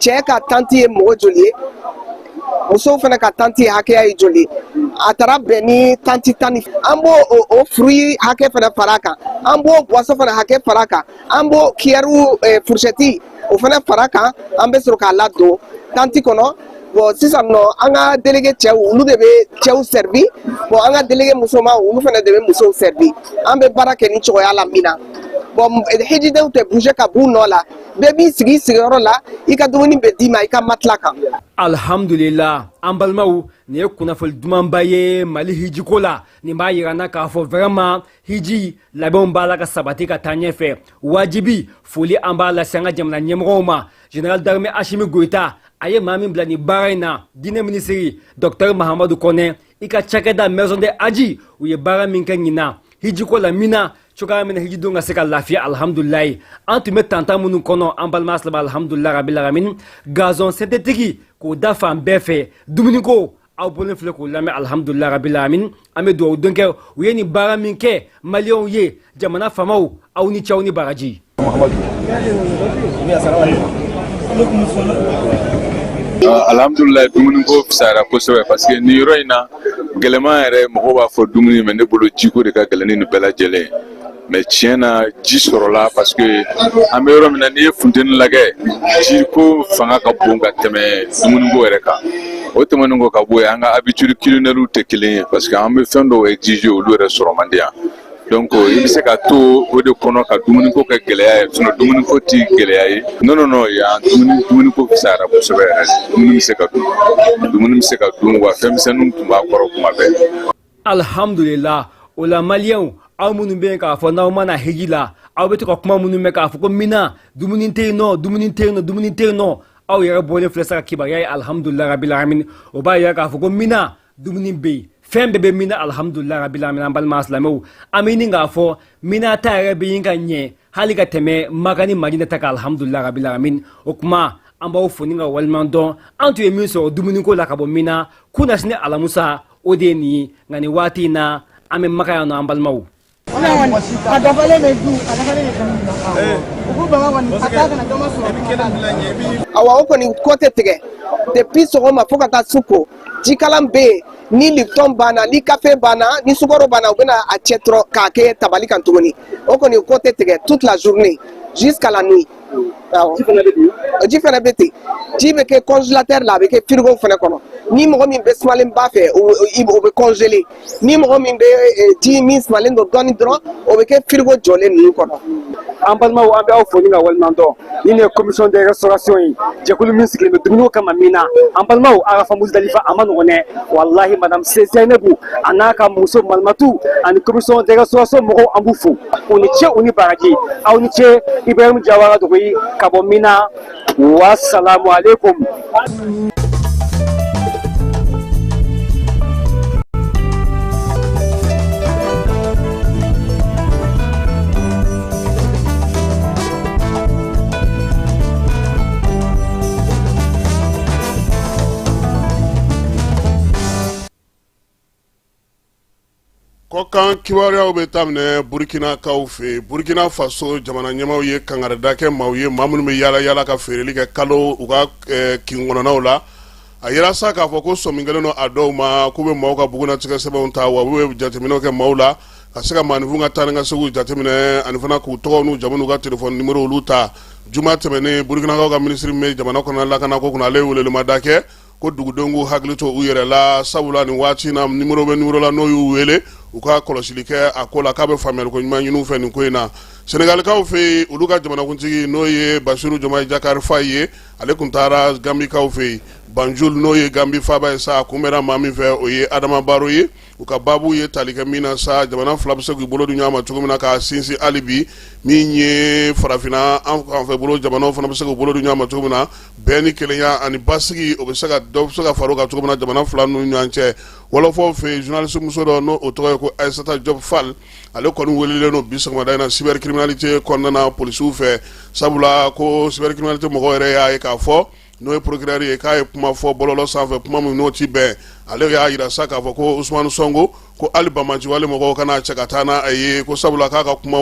cɛ ka tanti ye mɔgɔ joli ye musow fana ka tanti hakɛya ye joli ye a taara bɛn ni tanti tan ni an b'o o fruit hakɛ fana fara kan an b'o boisson fana hakɛ fara kan an b'o kiyɛriw eh, furusɛti o fana fara kan an bɛ sɔrɔ k'a ladon tanti kɔnɔ bon sisan nɔ an ka delege cɛw olu de bɛ cɛw sɛribi bon an ka delege musoman olu fana de bɛ musow sɛribi an bɛ baara kɛ nin cogoya la mina bon hijidenw tɛ bouger ka b'u nɔ la bɛɛ b'i sigi sigiyɔrɔ la i ka dumuni bɛ d'i ma i ka matila kan alhamdulila an balimaw nin ye kunnafoli dumanba ye mali hijiko la nin b'a yira an na k'a fɔ vraiment hiji labɛnw b'a la ka sabati ka taa ɲɛfɛ wajibi foli an b'a lase an ka jamana ɲɛmɔgɔw ma général d'armée asimi goyita a ye maa min bila nin baara in na diinɛ minisiri dɔktɛr mahamadu kɔnɛ i ka cakɛda maison de hadj u ye baara min kɛ ɲinan hijiko la mina cogoya min na hijidenw ka se ka lafiya alhamdulilayi an tun bɛ tantan minnu kɔnɔ an balima silamɛw alhamdulilayi rabil alamin gazon synthétique k'o da fan bɛɛ fɛ dumuniko aw bɔlen filɛ k'o lamɛn alhamdulilayi rabil alamin an bɛ dugawu don kɛ u ye nin baara min kɛ maliyɛnw ye jamana faamaw aw ni ce aw ni baraji alhamdulilayi dumuniko fisayara kosɛbɛ paseke nin yɔrɔ in na gɛlɛman yɛrɛ mɔgɔ b'a fɔ dumuni mɛ ne bolo jiko de ka gɛlɛn ni nin bɛɛ lajɛlen mɛ tiɲɛ na ji sɔrɔla paseke an bɛ yɔrɔ min na n'i ye funteni lajɛ jiko fanga ka bon ka tɛmɛ dumuniko yɛrɛ kan o tɛmɛnen kɔ ka bɔ yen an ka habitude culinaires tɛ kelen ye parce que an bɛ fɛn dɔw exiger olu yɛrɛ sɔrɔ man di yan donc euh, i bɛ se ka to o de kɔnɔ ka dumuniko kɛ gɛlɛya ye sinon dumuniko ti gɛlɛya ye non non non yan dumuni dumuniko fisayara kosɛbɛ yɛrɛ dumuni bɛ se ka dun dumuni bɛ se ka dun wa fɛnmisɛnninw tun b'a kɔrɔ kuma bɛɛ alihamdulila o la maliyɛnw aw minnu bɛ yen k'a fɔ n'aw ma na hiji la aw bɛ to ka kuma minnu mɛn k'a fɔ ko mina dumuni tɛ yen nɔ dumuni tɛ yen nɔ dumuni tɛ yen nɔ aw yɛrɛ bɔlen filɛ sa ka kibaruya ye alihamudulila rabila alamin o b'a yira k'a fɔ ko mina dumuni bɛ yen fɛn bɛɛ bɛ mina alihamudulila rabila alamin an balima silamɛw an bɛ ɲini k'a fɔ mina ta yɛrɛ bɛ ɲini ka ɲɛ hali ka tɛmɛ maka ni madina ta kan alihamudulila rabila alamin o kuma an b'aw fo ni k'aw waliɲuman dɔn an tun ye min sɔrɔ dumuniko la ka bɔ mina kunasini alamusa o de ye nin ye nka nin waati in na an bɛ maka yan nɔ an balimaw awa o kɔni kɔ tɛ tigɛ depuis sɔgɔma fo ka taa su ko jikalan bɛ yen ni lipton banna ni kafe banna ni sukaro banna u bɛna a cɛ dɔrɔn k'a kɛ tabali kan tuguni o kɔni kɔ tɛ tigɛ toute la journée jusqu'à la nuit Ji fana bɛ ten ji bɛ kɛ congélateur la a bɛ kɛ frigow fana kɔnɔ ni mɔgɔ min bɛ sumalenba fɛ o bɛ congelé ni mɔgɔ min bɛ ji min sumalenlen don dɔɔnin dɔrɔn o bɛ kɛ frigo jɔlen ninnu kɔnɔ an balimaw an bɛ aw fo ni ka waleɲumandɔn nin ye commission de restauration ye jɛkulu min sigilen bɛ dumuni kama Mina an balimaw Arafa Muzdalifa a man nɔgɔn dɛ walahi madame Zeinabu a n'a ka muso malimatu ani commission de restauration mɔgɔw an b'u fo u ni ce u ni baraji aw ni ce ibrahim jawara dogoyi ka bɔ Mina wasalamu aleykum Kɔkan kibaruyaw bɛ daminɛ Burkinakaw fɛ Burkina faso jamana ɲɛmaaw ye kangarida kɛ maaw ye maa minnu bɛ yaala yaala ka feereli kɛ kalo u ka kin kɔnɔnaw la a jira sa k'a fɔ ko sɔmi kɛlen don a dɔw ma k'u bɛ maaw ka bugunnatigɛ sɛbɛnw ta wa u bɛ jateminɛw kɛ maaw la ka se ka maaninfin ka taa ni ka seginw jateminɛ ani fana k'u tɔgɔw n'u jamu n'u ka telefɔni nimorow olu ta juma tɛmɛnen Burkinakaw ka minisiri min bɛ jamana kɔnɔna lakana ko kunna ale ye welewelemada kɛ ko dugudenw k'u hakili to u yɛrɛ la sabula nin waati in na nimoro bɛ nimoro la n'o y'u wele u ka kɔlɔsili kɛ a ko la k'a bɛ faamuyaliko ɲuman ɲini u fɛ nin ko in na senegalikaw fɛ yen olu ka jamanakuntigi n'o ye basiru jɔmayi jakari fayi ye ale kun taara gambikaw fɛ yen banjul n'o ye gambi faaba ye sa a kunbɛnna maa min fɛ o ye adama baro ye u ka baabu ye tali kɛ min na sa jamana fila bɛ se k'u bolo di ɲɔgɔn ma cogo min na k'a sinsin hali bi min ye farafinna an an fɛ bolo jamanaw fana bɛ se k'u bolo di ɲɔgɔn ma cogo min na bɛn ni kelenya ani basigi o bɛ se ka dɔ bɛ se ka fara o kan cogo min na jamana fila ninnu ni ɲɔgɔn cɛ wɔlɔfɔw fɛ yen journaliste muso dɔ n'o o tɔgɔ ye ko Aissata Diop Fall ale kɔni welelen don bi sɔgɔmada in na cybercriminalité kɔnɔna na polisiw fɛ sabula ko cybercriminalité mɔgɔw yɛrɛ y'a ye k'a fɔ n'o ye procureur ye k'a ye kuma fɔ bɔlɔlɔ sanfɛ kuma min n'o ti bɛn ale y'a jira sa k'a fɔ ko usumani sɔnko ko hali banbaanci wale mɔgɔw ka n'a cɛ ka taa n'a ye ko sabula k'a ka kuma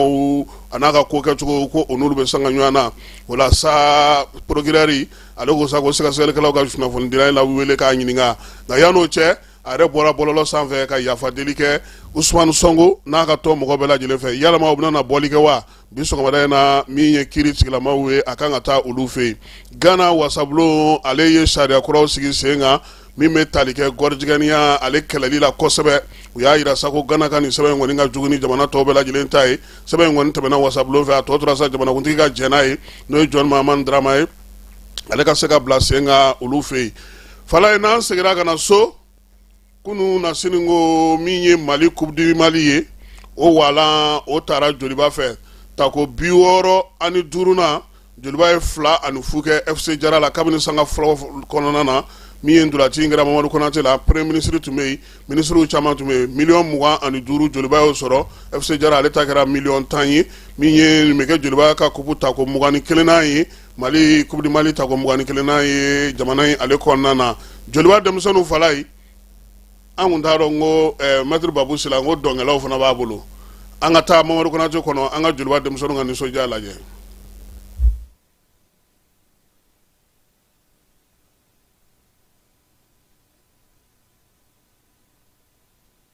a n'a ka ko kɛcogo ko o n'olu bɛ sanga ɲɔgɔn na o la sa procureur ale ko sa ko sɛgɛsɛgɛlikɛlaw ka kunnafonidila in wele k'a ɲininka nka yann'o cɛ a yɛrɛ bɔra bɔlɔlɔ sanfɛ ka yafa deli kɛ usumani sɔnko n'a ka tɔn mɔgɔ bɛɛ lajɛlen fɛ yalama o bɛna bɔli kɛ wa bi sɔgɔmada in na min ye kiri sigilamaw ye a k'an ka taa olu fɛ yen gana wasabulon ale ye sariya kuraw sigi sen kan min bɛ tali kɛ gɔrijigɛniya ale kɛlɛli la kosɛbɛ u y'a yira sa ko gana ka nin sɛbɛn in kɔni ka jugu ni jamana tɔw bɛɛ lajɛlen ta ye sɛbɛn in kɔni tɛmɛna wasabulon fɛ a tɔ tora sa jamanakuntigi ka jɛn n'a ye n'o ye jɔn mahamani darama ye ale ka se k'a bila sen kan olu fɛ yen falayi n'an seginna ka na so kununasini n ko min ye mali coupe du mali ye o wala o taara joliba fɛ tako bi wɔɔrɔ ani duuruna joliba ye fila ani fu kɛ fc jara la kabini sanga fɔlɔ kɔnɔna na min ye ntolaci in kɛra mamadu konate la premier ministre tun bɛ yen minisiriw caman tun bɛ yen miliyɔn mugan ani duuru joliba y'o sɔrɔ fc jara ale ta kɛra miliyɔn tan ye min ye nin bɛ kɛ joliba ka kupu tako mugan ni kelenna ye mali coupe du mali tako mugan ni kelenna ye jamana in ale kɔnɔna na joliba denmisɛnninw falayi an kun t'a dɔn n ko eh, mɛtiri babu sila n ko dɔnkɛlaw fana b'a bolo an ka taa mamadu konate kɔnɔ an ka joliba denmisɛnninw ka nisɔndiya lajɛ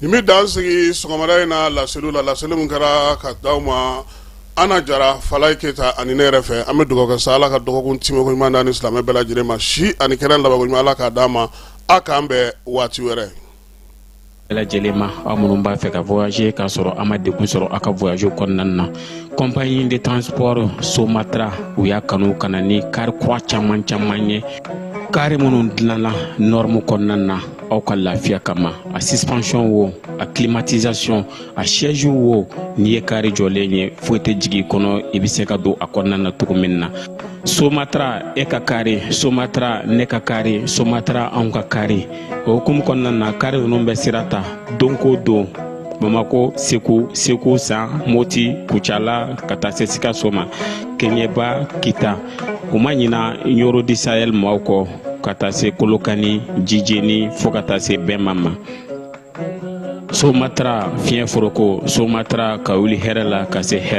Nin bɛ dan sigi sɔgɔmada in na laseli la laseli min kɛra ka d'aw ma ana jara falayi keyita ani ne yɛrɛ fɛ an bɛ dugawu kɛ sa ala ka dɔgɔkun tɛmɛko ɲuman d'an ni silamɛ bɛɛ lajɛlen ma si ani kɛnɛya labanko ɲuman ala k'a d'a ma aw k'an bɛn waati wɛrɛ lajɛlen ma aw minnu b'a fɛ ka voyager k'a sɔrɔ a ma degun sɔrɔ a ka voyage kɔnɔna na compagnie de transport somatra u y'a kanu ka na ni kari kura caman caman ye kari minnu dilanna norme kɔnɔna na aw ka lafiya kama a suspension wo a climatisation a siège wo n'i ye kari jɔlen ye foyi tɛ jigin i kɔnɔ i bɛ se ka don a kɔnɔna na cogo min na somatra e ka kari somatra ne ka kari somatra anw ka kari o hukumu kɔnɔna na kari ninnu bɛ sira ta don ko don bamako segu segu san moti kucala ka taa se sikaso ma keɲeba kita u ma ɲina nioro du sahel maaw kɔ ka taa se kolokani jijeni fɔɔ ka taa se bema ma somatara fiɲɛ foroko somatara ka wuli hɛrɛ la ka se hɛrɛ